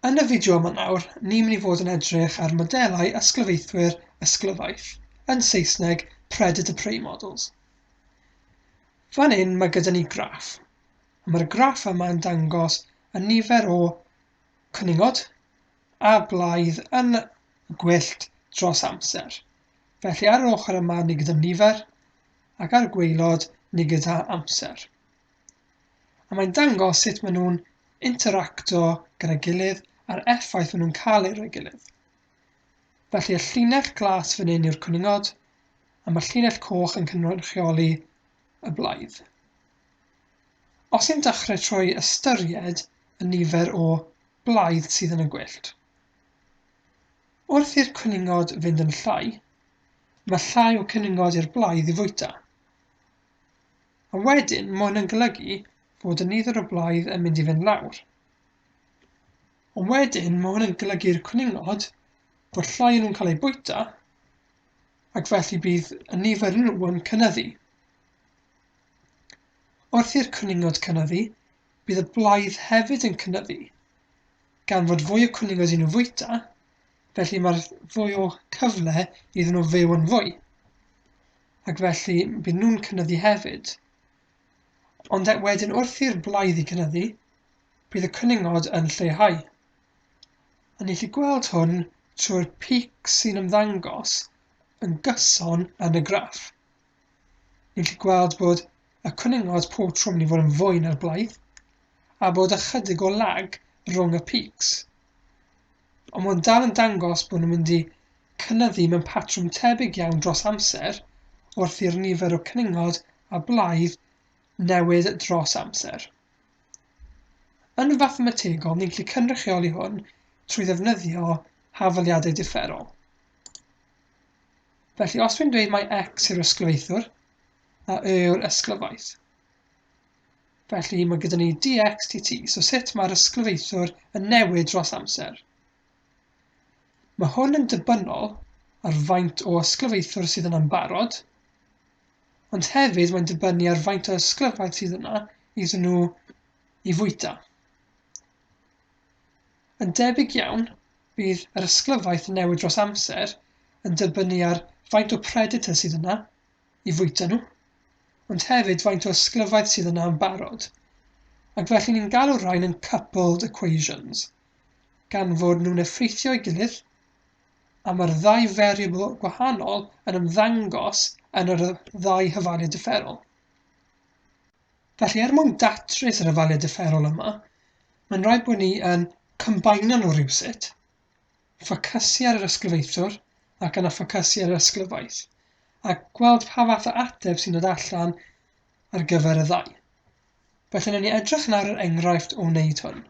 Yn y fideo yma nawr, ni'n mynd i fod yn edrych ar modelau ysglyfaethwyr ysglyfaeth, yn Saesneg, predator-prey models. Fan hyn mae gyda ni graff, a mae'r graff yma yn dangos y nifer o cwningod a blaidd yn gwyllt dros amser. Felly ar yr ochr yma ni gyda nifer, ac ar gweilod ni gyda amser. a mae'n dangos sut maen nhw'n interacto gyda'i gilydd a'r effaith maen nhw'n cael ar ei gilydd. Felly y llinell glas fan hyn yw'r cwningod, a mae'r llinell coch yn cynrychioli y blaidd. Os yn dechrau trwy ystyried y nifer o blaidd sydd yn y gwyllt, wrth i'r cwningod fynd yn llai, mae llai o cwningod i'r blaidd i fwyta. A wedyn, mae hwn yn golygu fod y nifer o blaid yn mynd i fynd lawr. Ond wedyn, mae hwn yn golygu'r cwningod bod llai nhw'n cael eu bwyta, ac felly bydd y nifer nhw yn cynnyddu. Wrth i'r cwningod cynnyddu, bydd y blaidd hefyd yn cynnyddu, gan fod fwy o cwningod i nhw fwyta, felly mae'r fwy o cyfle iddyn nhw fyw yn fwy. ac felly byd nhw'n cynyddu hefyd. Ond e, wedyn wrth i'r blaidd i gynyddu, bydd y cwningod yn lleihau. A ni'n lli gweld hwn trwy'r pic sy'n ymddangos yn gyson yn y graff. Ni'n lli gweld bod y cwningod pob tro mynd i fod yn fwy na'r blaidd, a bod ychydig o lag rhwng y pics. Ond mae'n dal yn dangos bod nhw'n mynd i cynyddu mewn patrwm tebyg iawn dros amser wrth i'r nifer o cwningod a blaidd newid dros amser. Yn fathemategol, ni'n gallu cynrychioli hwn trwy ddefnyddio hafaliadau differol. Felly, os dwi'n dweud mae x yw'r ysglyfaethwr a y yw'r ysglyfaeth, Felly, mae gyda ni dxtt, so sut mae'r ysglyfaethwr yn newid dros amser. Mae hwn yn debynol ar faint o ysglyfaethwr sydd yna'n barod, ond hefyd mae'n dibynnu ar faint o ysglyfaeth sydd yna iddyn nhw i fwyta. Yn debyg iawn, bydd yr ysglyfaeth yn newid dros amser yn dibynnu ar faint o predator sydd yna, i fwyta nhw, ond hefyd faint o ysglyfaeth sydd yna yn barod, ac felly ni'n galw'r rhain yn coupled equations, gan fod nhw'n effeithio'i gilydd, a mae'r ddau variable gwahanol yn ymddangos yn yr ddau hyfaliad differol. Felly, er mwyn datrys yr hyfaliad differol yma, mae'n rhaid bod ni yn combinio nhw rhywsut, ffocysu ar yr ysglyfaethwr ac yna ffocysu ar yr ysglyfaeth, a gweld pa fath o ateb sy'n dod allan ar gyfer y ddau. Felly, newn ni edrych nawr yr enghraifft o wneud hwn.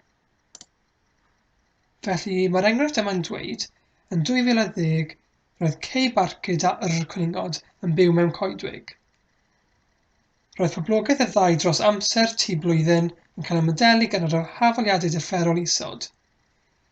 Felly, mae'r enghraifft yma'n dweud, yn 2010, roedd Kay Barcud a Yr Cwningod yn byw mewn coedwig. Roedd poblogaeth y ddau dros amser tu blwyddyn yn cael ymodelu gan yr hafaliadau dyfferol isod.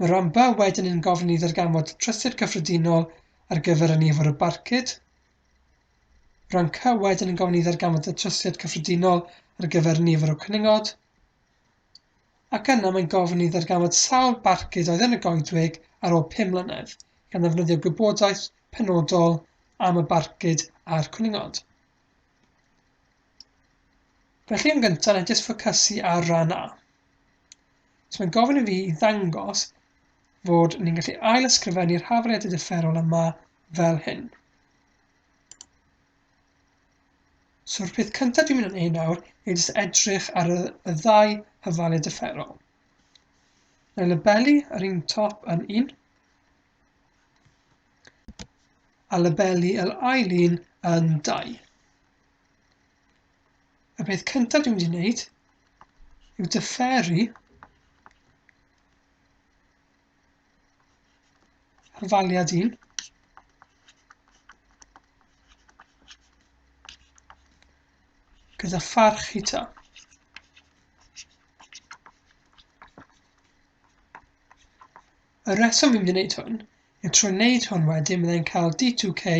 Mae Rhondda wedyn yn gofyn i ddarganfod trysor cyffredinol ar gyfer y nifer o barcud. Rhondda wedyn yn gofyn i ddarganfod y trosiad cyffredinol ar gyfer y nifer o cwningod. Ac yna mae'n gofyn i ddarganfod sawl barcud oedd yn y goedwig ar ôl 5 mlynedd, gan ddefnyddio gwybodaeth penodol am y barcud a'r cwningod. Felly yn gyntaf, na jyst ffocysu ar ran A. So mae'n gofyn i fi i ddangos fod ni'n gallu ail ysgrifennu'r hafaliadau differol yma fel hyn. So'r peth cyntaf dwi'n mynd yn ei nawr yw jyst edrych ar y, y ddau hyfalu differol. Neu labelu yr un top yn un, a labelu yr ail un yn dau. y peth cyntaf dwi'n mynd i wneud yw dyferu ar faliad un. gyda pharch i ta. Y rheswm fi'n mynd i wneud hwn yw trwy wneud hwn wedyn byddai'n cael d2k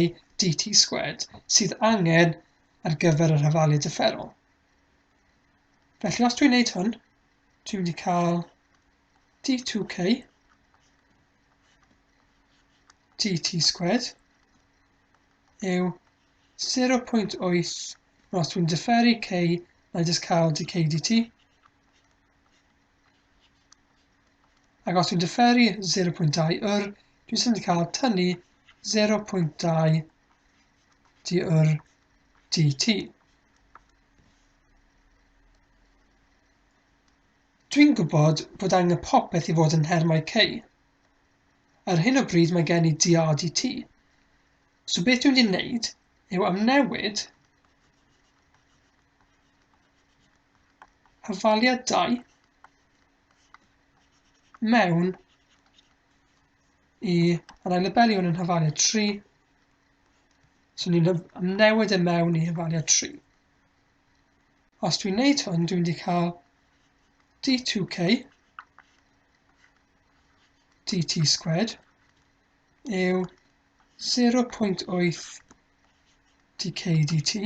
dt sgwed sydd angen ar gyfer yr hyfalu dyfferol. Felly os dwi'n wneud hwn, dwi'n mynd i cael d2k dt sgwed yw 0.8 os dwi'n dyfferu k mae'n jyst cael dk dt Ac os dwi'n dyferu 0.2 yr, dwi'n sy'n cael tynnu 0.2 di yr dt. Dwi'n gwybod bod angen popeth i fod yn nhermau c. Ar hyn o bryd mae gen i dr dt. So beth dwi'n mynd i wneud yw amnewid hafaliadau mewn i yr ailybelion yn hafaliad 3. So ni'n newid e mewn i hafaliad 3. Os dwi'n neud hwn, dwi'n wedi cael d2k dt squared yw 0.8 dk dt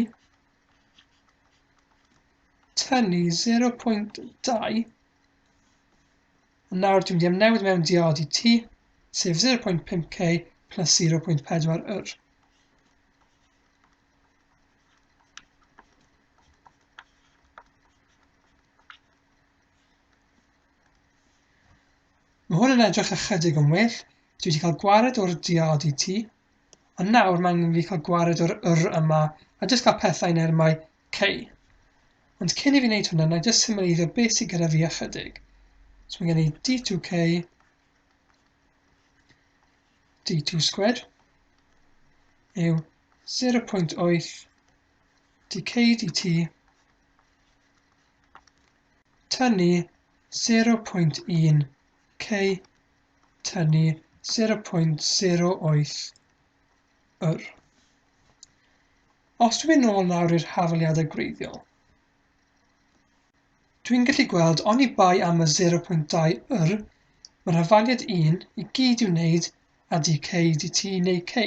tynnu 0.2 nawr dwi'n mynd i amnewid mewn diod i ti sef 0.5k plus 0.4 yr Mae hwn yn edrych ychydig yn well. Dwi wedi cael gwared o'r diod i ti, Ond nawr mae angen fi cael gwared o'r yr yma a jyst cael pethau yn ermau cei. Ond cyn i fi wneud hwnna, na jyst symleiddio beth sydd gyda fi ychydig. So mae gen i D2K, D2 squared, yw 0.8 dk dt tynnu 0.1 k tynnu 0.08 yr. Os dwi'n ôl nawr i'r hafaliadau gwreiddiol, dwi'n gallu gweld oni bai am y 0.2 yr, mae'r hafaliad 1 i gyd i'w wneud â dk dt neu k.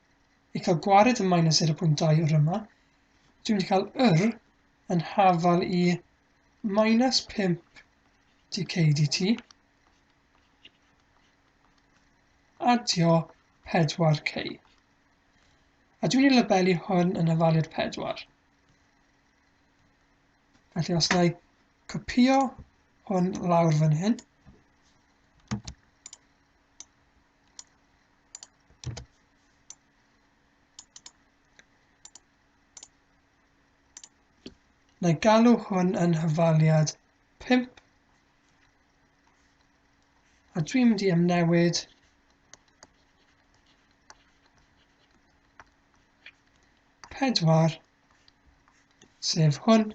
i cael gwared y minus 0.2 yr yma, dwi'n mynd i cael yr yn hafal i minus 5 dk dt, adio 4k. A dwi'n ei labelu hwn yn hafaliad 4. Felly os na i copio hwn lawr fan hyn, Na galw hwn yn hyfaliad 5. A dwi'n mynd i amnewid pedwar, sef hwn,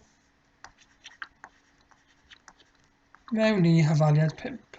mewn i hyfaliad 5.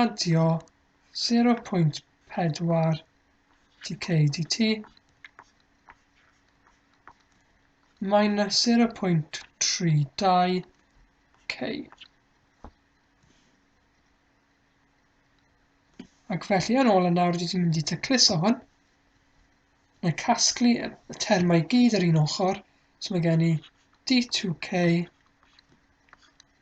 adio 0.4 dkdt minus 0.32 k. Ac felly yn ôl yn nawr dwi wedi mynd i tacluso hwn. Mae casglu y termau gyd ar un ochr, so mae gen i d2k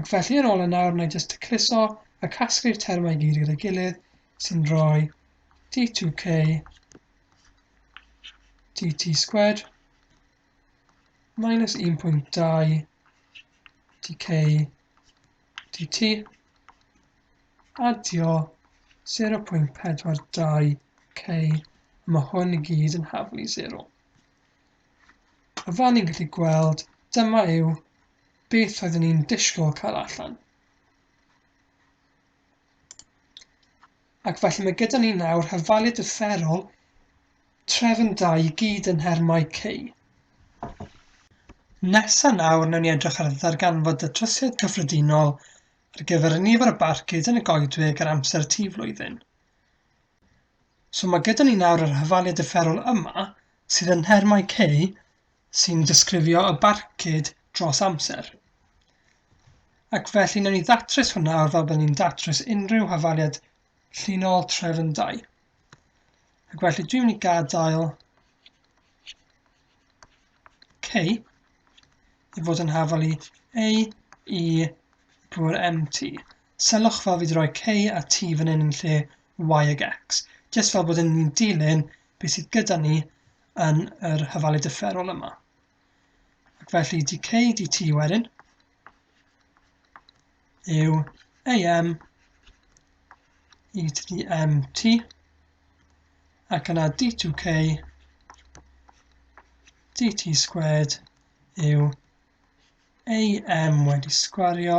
Ac felly yn ôl yn nawr, na i jyst tacluso a casglu'r termau i gyd gyda'i gilydd sy'n rhoi d2k dt squared minus 1.2 dk dt adio 0.42 k a mae hwn i gyd yn haflu 0. A fel ni'n gallu gweld, dyma yw beth oeddwn ni'n disgwyl cael allan. Ac felly mae gyda ni nawr hyfalu dyfferol trefn da i gyd yn nhermau cei. Nesa nawr newn ni edrych ar ddarganfod datrysiad cyffredinol ar gyfer y nifer o barcud yn y goedwig ar amser tŷ flwyddyn. So mae gyda ni nawr yr hyfaliad differol yma sydd yn nhermau K sy'n disgrifio y barcud dros amser. Ac felly newn ni ddatrys hwnna o'r fel byddwn ni'n datrys unrhyw hyfaliad llinol trefn 2. Ac felly dwi'n mynd i gadael K i fod yn hafal i A i drwy'r MT. Sylwch fel fi 'di roi K a T fan hyn yn lle Y ag X, jyst fel bod yn ni'n dilyn beth sydd gyda ni yn yr hyfalu differol yma. Ac felly dk dt wedyn yw am e to the mt ac yna d2k dt squared yw am wedi sgwario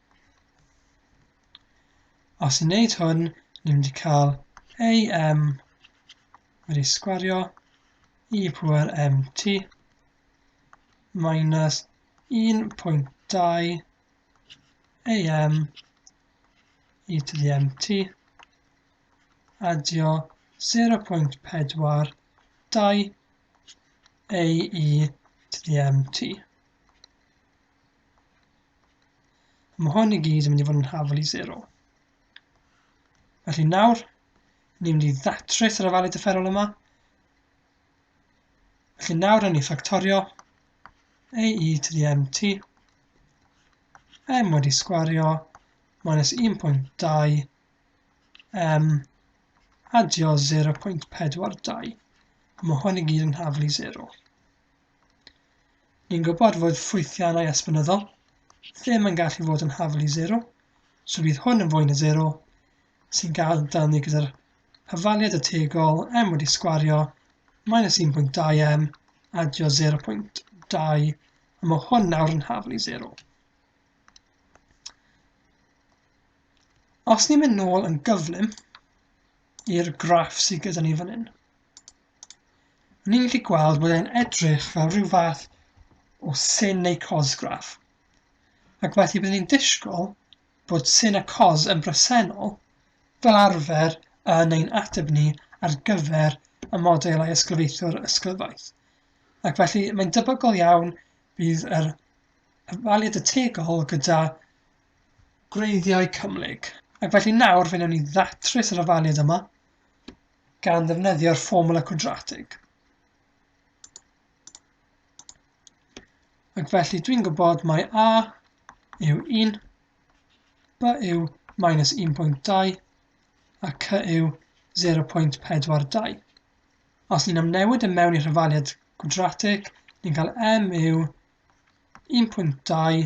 Os ni'n neud hwn, ni'n mynd i cael AM wedi sgwario i pwer MT minus 1.2 AM i to the MT adio 0.42 AE to the MT. Mae hwn i gyd yn mynd i fod yn hafel i 0. Felly nawr, ni'n mynd i ddatrys yr afalu dyfferol yma. Felly nawr yn ei ffactorio a e to the mt m wedi sgwario minus 1.2 m adio 0.42. Mae hwn i gyd yn hafel i 0. Ni'n gwybod fod ffwythiannau esbynyddol ddim yn gallu fod yn haflu sero, so bydd hwn yn fwy na sero, sy'n gadael ni gyda'r hyfaliad ategol m wedi sgwario minus 1.2m adio 0.2 a mae hwn nawr yn haflu sero. Os ni'n mynd nôl yn gyflym i'r graff sydd gyda ni fan hyn, Ni'n gallu gweld bod e'n edrych fel rhyw fath o sin neu cosgraff. Ac felly byddwn ni'n disgwyl bod sin a cos yn bresennol fel arfer yn ein ateb ni ar gyfer y modelau ysglyfaethwr ysglyfaeth. Ac felly mae'n debygol iawn bydd yr ymwaliad y tegol gyda gwreiddiau cymhlyg. Ac felly nawr fe wnawn ni ddatrys yr ofaliad yma gan ddefnyddio'r fformwla cwadratig. Ac felly dwi'n gwybod mae A yw 1, B yw minus 1.2 a C yw 0.42. Os ni'n amnewid y e mewn i rhyfaliad gwadratig, ni'n cael M yw 1.2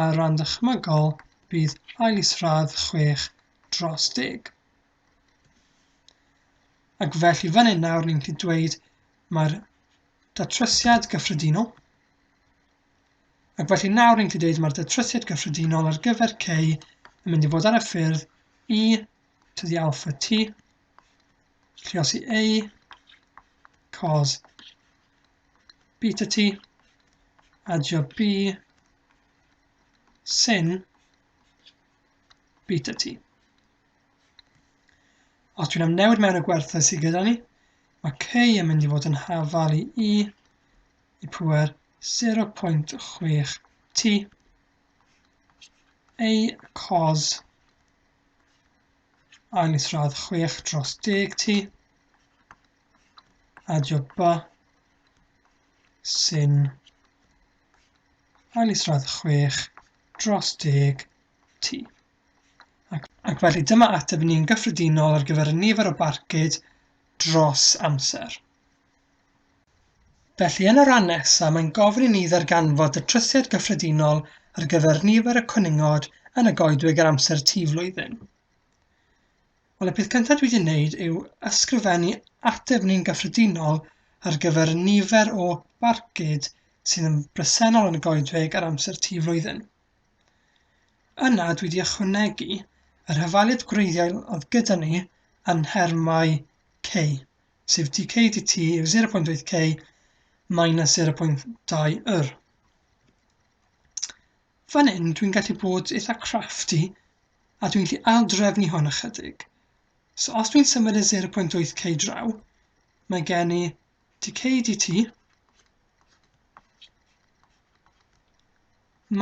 Ar ran dychmygol, bydd ail isradd chwech dros deg. Ac felly fan hyn nawr ni'n gallu dweud mae'r datrysiad gyffredinol ac felly nawr ni'n gallu dweud mae'r datrysiad gyffredinol ar gyfer k yn mynd i fod ar y ffyrdd i e to the alpha t lluosi a cos beta t, adio b, sin beta t. Os dwi'n am newid mewn y gwerthau sydd gyda ni, mae k yn mynd i fod yn hafal i i i pwer 0.6 t a cos ail isradd 6 dros 10 t a jopa sy'n cael ei sradd 6 dros 10 T. Ac, ac felly dyma ateb ni'n gyffredinol ar gyfer y nifer o barcud dros amser. Felly yn y rhan nesaf mae'n gofyn i ni ddarganfod y trysiad gyffredinol ar gyfer nifer y cwningod yn y goedwig ar amser T flwyddyn. Wel, y peth cyntaf dwi wedi wneud yw ysgrifennu ateb ni'n gyffredinol ar gyfer y nifer o barcud sydd yn bresennol yn y goedwig ar amser tu flwyddyn. Yna dwi wedi ychwanegu yr hyfaliad gwreiddiol oedd gyda ni yn nhermau K, sef dk dt yw 0.8 K minus 0.2 yr. Fan hyn dwi'n gallu bod eitha crafty a dwi'n gallu aildrefnu hwn ychydig. So os dwi'n symud y 0.8k draw, mae gen i dk dt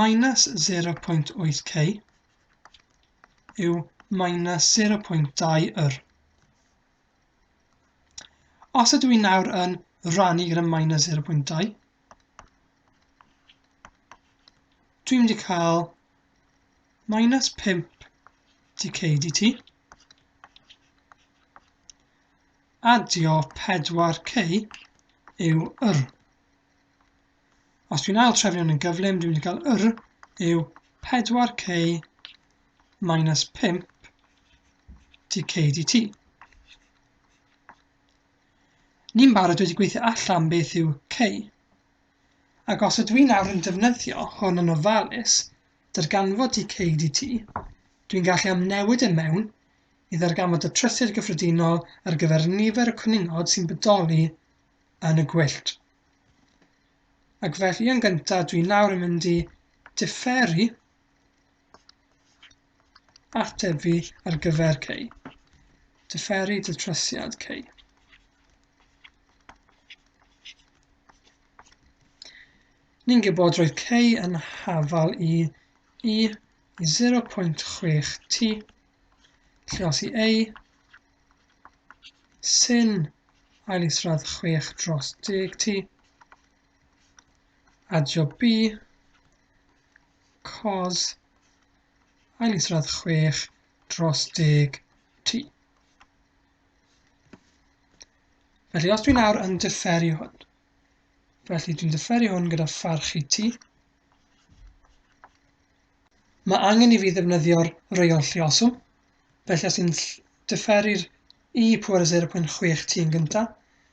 minus 0.8k yw minus 0.2 yr. Os ydw i'n nawr yn rannu gyda minus 0.2, Dwi'n mynd i cael minus 5 dk dt. Adio 4k yw yr. Os dwi'n ail trefnion yn gyflym, dwi'n mynd i gael yr yw 4k minus 5 dk dt. Ni'n barod wedi gweithio allan beth yw k. Ac os ydw i nawr yn defnyddio hwn yn ofalus, darganfod ti ceid i ti, dwi'n gallu amnewid e mewn i ddarganfod y trysir gyffredinol ar gyfer nifer y cwningod sy'n bodoli yn y gwyllt. Ac felly yn gyntaf dwi nawr yn mynd i diferu Atebu ar gyfer cei. Diferu datrysiad cei. Ni'n gwybod roedd cei yn hafal i i 0.6 t, lle os i ei sy'n ail isradd 6 dros 10 t, adio B, cos aelisradd 6 dros 10 t. Felly os dwi'n nawr yn differi hwn, felly dwi'n differi hwn gyda pharch i t, mae angen i fi ddefnyddio'r reol llioswm, felly os i'n differi'r i pwer 0.6 t yn gyntaf,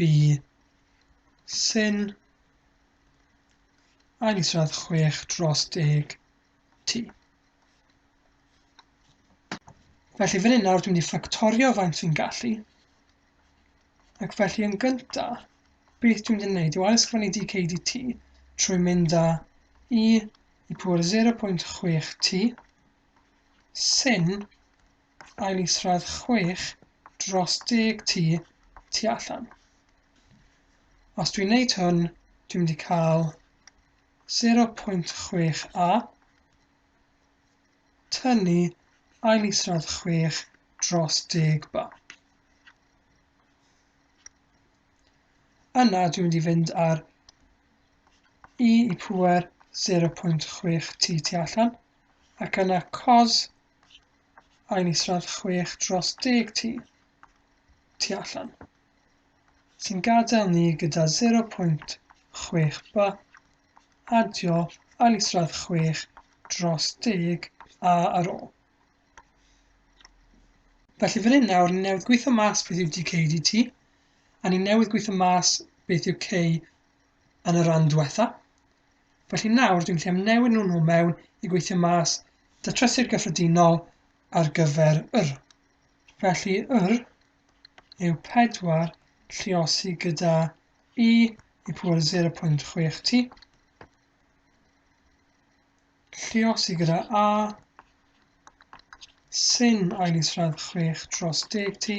By Syn Ailysradd chwech dros deg T. Felly fan hyn nawr dwi'n mynd i ffactorio faint fi'n gallu. Ac felly yn gynta, beth dwi'n mynd i wneud yw ailsgrifennu dk dt trwy mynd â i i pŵer 0.6t sy'n ail isradd chwech dros deg tu tu allan. Os dwi'n neud hwn, dwi'n mynd i cael 0.6a tynnu ail isradd 6 dros deg ba. Yna dwi'n mynd i fynd ar i i pwer 0.6 t tu allan ac yna cos Ein isradd chwech dros deg tŷ, tu allan, sy'n gadael ni gyda 0.6 by, adio ail isradd chwech dros deg a ar ôl. Felly fan hyn nawr, ni newydd gweithio mas beth yw dkdt, a ni newydd gweithio mas beth yw k yn y rhan diwetha. Felly nawr dwi'n gallu amnewid nhw nhw mewn i gweithio mas datrysiad gyffredinol ar gyfer yr. Felly yr yw 4 lliosi gyda i i pŵer 0.6 t lliosi gyda a sy'n ail isradd 6 dros 10 t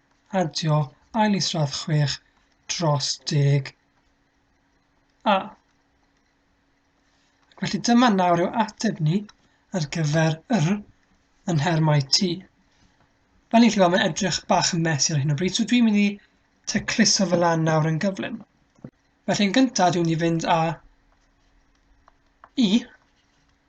Adio ail isradd chwech dros deg A. Ac felly dyma nawr yw ateb ni ar gyfer yr yn nhermau T. Fel ni'n llywed, mae'n edrych bach yn mes ar hyn o bryd, so dwi'n mynd i tecluso fel lan nawr yn gyflym. Felly yn gyntaf dwi'n mynd i fynd â i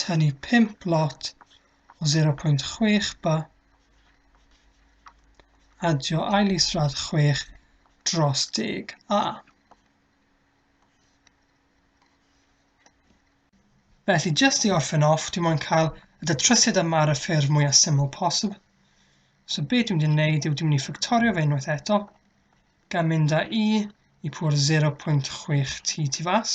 tynnu 5 lot o 0.6 by, adio ail israd 6 dros deg a. Felly, jyst i orffen off, dwi'n mwyn cael y datrysiad yma ar y ffurf mwyaf syml posib. So be dwi'n mynd i wneud yw dwi'n mynd i ffactorio fe unwaith eto, gan mynd â i i pwr 0.6t tu fas.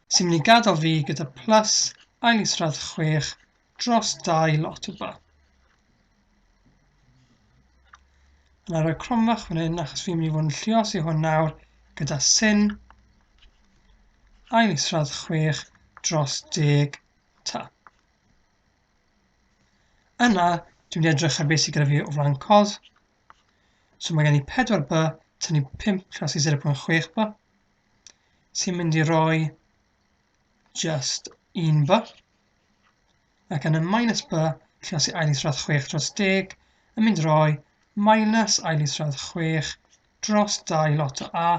Sy'n mynd i gadael fi gyda plus ail isradd chwech dros dau lot o ba. Yn ar y cromfach fan hyn achos fi'n mynd i fod yn llios i hwn nawr gyda sin ail isradd chwech dros deg ta. Yna, dwi'n mynd i edrych ar beth sydd gyda fi o flaen cos. So mae gen i 4 by tynnu 5 tras i 0.6 by. sy'n mynd i roi just un by. Ac yn y minus by, lle os i ail isradd 6 dros 10, yn mynd roi minus ail isradd 6 dros 2 lot o a.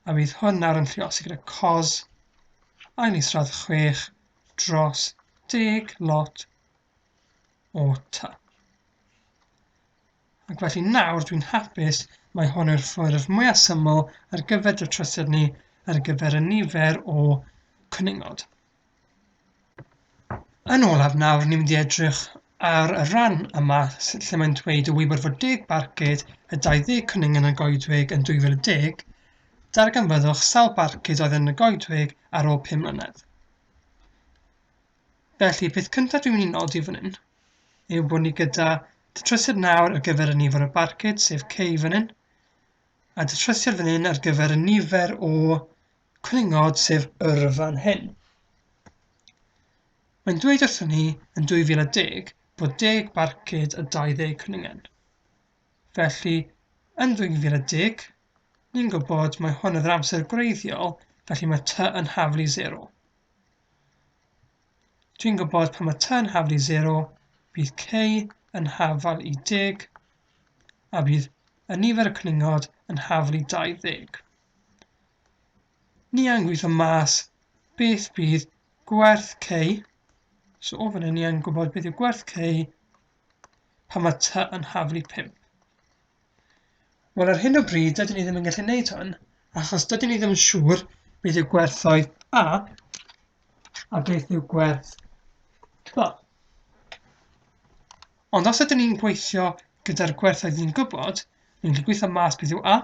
A bydd hwn nawr yn lliosi gyda cos ail isradd 6 dros 10 lot o ta. Ac felly nawr dwi'n hapus, mae hon yw'r ffurf mwyaf syml ar gyfer datrysiad ni ar gyfer y nifer o cwningod. Yn olaf nawr, ni'n mynd i edrych ar y rhan yma lle mae'n dweud y wybod fod deg barcud a 20 cwningen y goedwig yn 2010, darganfyddwch sawl barcud oedd yn y goedwig ar ôl 5 mlynedd. Felly, y peth cyntaf dwi'n mynd i nodi fan hyn yw bod ni gyda datrysiad nawr ar gyfer y nifer o barcud, sef K fan hyn, a datrysiad fan hyn ar gyfer y nifer o cwningod, sef yr fan hyn. Mae'n dweud wrthyn ni yn 2010 bod 10 barcud a 20 cwningen. Felly, yn 2010, ni'n gwybod mae hwn yn yr amser gwreiddiol, felly mae ty yn haflu 0. Dwi'n gwybod pan mae tan hafal i 0, bydd k yn hafal i 10, a bydd y nifer y cwningod yn hafal i 20. Ni a'n gweithio mas beth bydd gwerth k, so o fan hyn ni a'n gwybod beth yw gwerth k pan mae t yn hafal i 5. Wel ar hyn o bryd dydyn ni ddim yn gallu neud hwn achos dydyn ni ddim yn siŵr beth yw gwerthoedd A a beth yw gwerth B. Ond os ydyn ni'n gweithio gyda'r gwerthoedd ni'n gwybod, ni'n gallu gweithio mas beth yw A,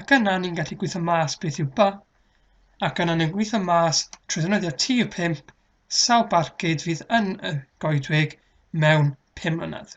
ac yna ni'n gallu gweithio mas beth yw B, ac yna ni'n gweithio mas trwy ddefnyddio TU5 sawl barcud fydd yn y goedwig mewn 5 mlynedd.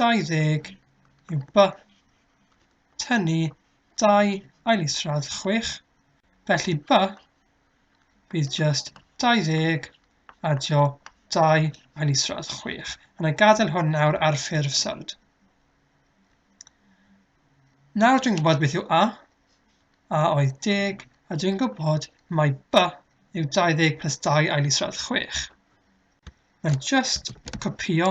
20 yw by tynnu dau ailisradd 6, felly by bydd just 20 adio dau ailisradd 6. Yn y gadael hwn nawr ar ffurf sylwyd. Nawr dwi'n gwybod beth yw a, a oedd deg, a dwi'n gwybod mai by yw 20 plus 2 ail isradd 6. Mae'n just copio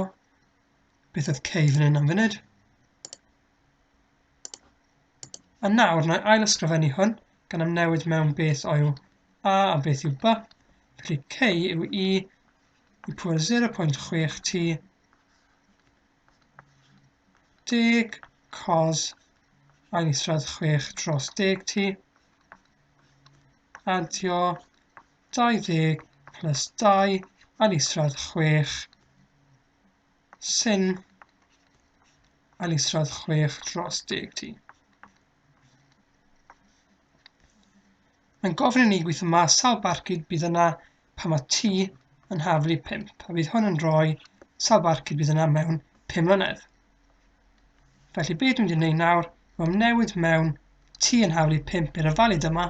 Beth oedd k fan hyn am funud? A nawr, na i ail ysgrifennu hwn, gan am newid mewn beth oedd a a beth yw b. Felly k yw i i pwyr 0.6 t deg cos ail isradd 6 dros deg t adio 20 plus 2 yn isradd 6 sy'n yn isradd 6 dros 10 ti. Mae'n gofyn i ni gweithio mas sawl barcud bydd yna pan mae T yn haflu 5, a bydd hwn yn rhoi sawl barcud bydd yna mewn 5 mlynedd. Felly beth dwi'n mynd i wneud nawr, mae'n newid mewn T yn haflu 5 i'r ofalyd yma,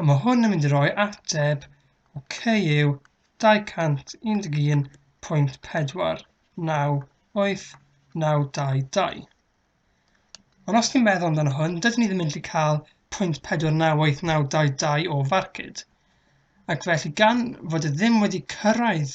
A mae hwn yn mynd i roi ateb o CU 211.4989222. Ond os ni'n meddwl amdano hwn, dydyn ni ddim yn gallu cael 0.498922 o farcud. Ac felly gan fod e ddim wedi cyrraedd